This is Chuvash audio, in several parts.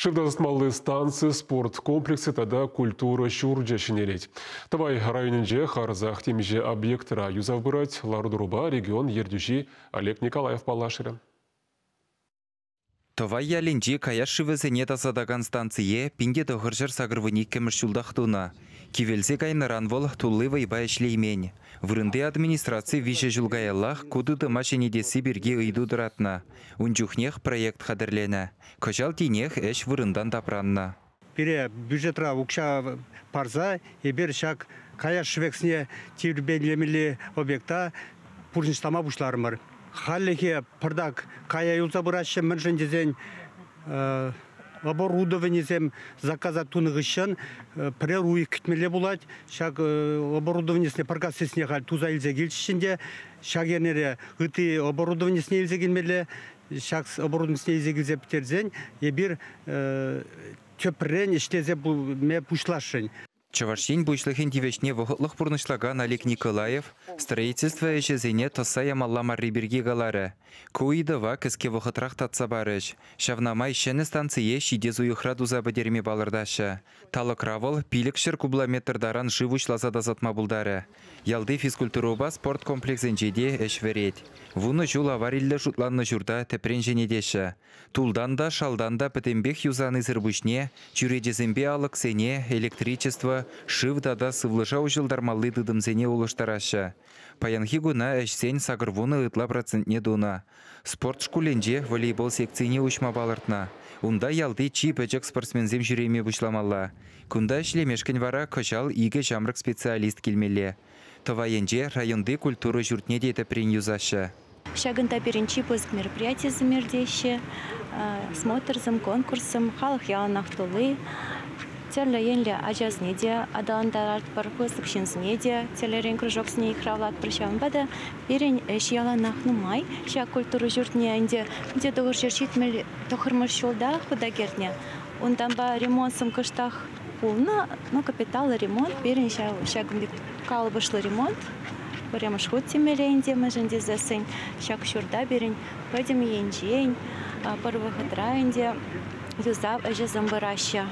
Шывта тӑсмалли станци, спорт комплексӗ тата культура ҫурчӗ ҫӗнелет. Тӑвай районӗнче харӑсах темиҫе объектра юсав пырать. Лару-тӑрупа регион ертӳҫи Олег Николаев паллашрӗ. Тӑвай ялӗнчи каяш шывӗсене тасатакан станцие пин те тӑхӑрҫӗр сакӑр вун иккӗмӗш ҫултах тунӑ. Кивелсе кайнӑран вӑл тулли вӑйпа ӗҫлеймен. Вырӑнти администраци виҫӗ ҫул каяллах ку тытӑма ҫӗнетесси пирки ыйту тӑратнӑ. Ун чухнех проект хатӗрленӗ. Кӑҫал тинех ӗҫ вырӑнтан тапраннӑ. Пире бюджетра укҫа парса эпир ҫак каяш шӗвексне тирпейлемелли объекта пурнӑҫлама пуҫларӑмӑр. Хальлӗхе пӑртак кая юлса пыраҫҫӗ, мӗншӗн тесен оборудованисем заказа тунӑ хыҫҫӑн пӗрер уйӑх кӗтмелле пулать. Ҫак оборудованисене паркассисне халь туса илсе килчӗҫ ӗнтӗ. Ҫак эрнере ытти оборудованисене илсе килмелле. Ҫак оборудованисене илсе килсе пӗтерсен эпир тӗпрен ӗҫлесе пуҫласшӑн. Чӑваш Ен Пуҫлӑхӗн тивӗҫне вӑхӑтлӑх пурнӑҫлакан Олег Николаев строительство ӗҫӗсене тӑсса ямалла марри пирки каларӗ. Ку ыйтӑва кӗске вӑхӑтрах татса парӗҫ. Ҫавна май ҫӗнӗ станцие ҫитес уйӑхра туса пӗтерме палӑртаҫҫӗ. Талӑкра вӑл пилӗкҫӗр кубометр таран шыв уҫласа тасатма пултарӗ. Ялти физкультурӑпа спорт комплексӗнче те ӗҫ вӗрет. Вунӑ ҫул авариллӗ шутланнӑ ҫурта тӗпрен ҫӗнетеҫҫӗ. Тултан та, шалтан та пӗтӗмпех юсанисӗр пуҫне чӳречесемпе алӑксене, электричество, шыв тата сывлӑша уҫӑлтармалли тытӑмсене улӑштараҫҫӗ. Паянхи куна ӗҫсен сакӑрвунӑ ытла процентне тунӑ. Спорт шкулӗнче волейбол секцине уҫма палӑртнӑ. Унта ялти чи пӗчӗк спортсменсем ҫӳреме пуҫламалла. Кунта ӗҫлемешкӗн вара кӑҫал икӗ ҫамрӑк специалист килмелле. Тӑвай енче районти культура ҫуртне те тӗпрен юсаҫҫӗ. Ҫакӑнта пирӗн чи пысӑк мероприятисем иртеҫҫӗ, смотрсем, конкурссем, халӑх яланах тулли. Тӗрлӗ енлӗ ачасене те аталантаратпӑр, пысӑк ҫынсене те тӗрлӗрен кружоксене йыхравлатпӑр. Ҫавӑнпа та пирӗн ӗҫ яланах нумай. Ҫак культура ҫуртне ӗнтӗ пӗлте тӑхӑрҫӗр ҫитмӗл тӑхӑрмӗш ҫулта хута кӗртнӗ. Унтанпа ремонтсем кӑштах пулнӑ. Ну, капиталлӑ ремонт пирӗн ҫакӑн пек калӑпӑшлӑ ремонт. Пӗрремӗш хут тимлӗ ӗнтӗ мӗншӗн тесессӗн ҫак ҫурта пирӗн пӗтӗм енчен пӗр вӑхӑтра ӗнтӗ юсав ӗҫӗсем пыраҫҫӗ.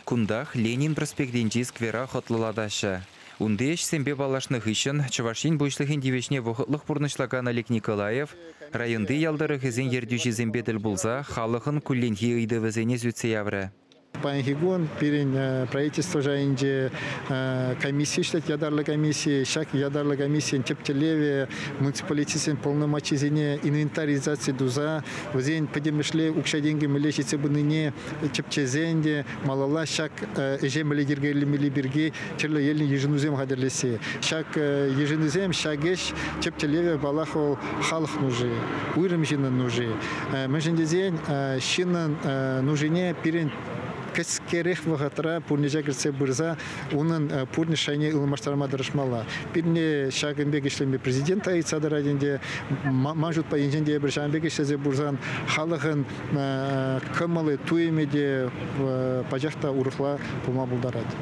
Кунтах Ленин проспектӗнчи сквера хӑтлӑлатаҫҫӗ. Унти ӗҫсемпе паллашнӑ хыҫҫӑн Чӑваш Ен Пуҫлӑхӗн тивӗҫне вӑхӑтлӑх пурнӑҫлакан Олег Николаев районти ял тӑрӑхӗсен ертӳҫисемпе тӗл пулса халӑхӑн кулленхи ыйтӑвӗсене сӳтсе яврӗ. Паянхи кун пирӗн правительство шайӗнче комисси ӗҫлет ятарлӑ комисси. Ҫак ятарлӑ комиссийӗн тӗп тӗллевӗ муниципалитетсен полномочисене инвентаризаци туса вӗсен пӗтӗмӗшле укҫа-тенкӗ мӗнле ҫитсе пынине тӗпчесен те малалла ҫак ӗҫе мӗнле йӗркелемелли пирки тӗрлӗ енлӗ йышӑнусем хатӗрлесси. Ҫак йышӑнусем ҫак ӗҫ тӗп тӗллевӗ, паллах, вӑл халӑх нуши, уйрӑм ҫыннӑн нуши. Мӗншӗн тесен ҫыннӑн нушине пирӗн кӗскерех вӑхӑтра пурнӑҫа кӗртсе пырса унӑн пурнӑҫ шайне ылмаштарма тӑрӑшмалла. Пирӗн ҫакӑн пек ӗҫлеме президент та ыйтса тӑрать ӗнтӗ. Ман шутпа, енчен те эпир ҫавӑн пек ӗҫлесе пырсан халӑхӑн кӑмӑллӑ туйӑмӗ те пачах та урӑхла пулма пултарать.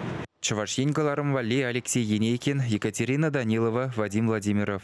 Чӑваш Ен кӑларӑм валли Алексей Енейкин, Екатерина Данилова, Вадим Владимиров.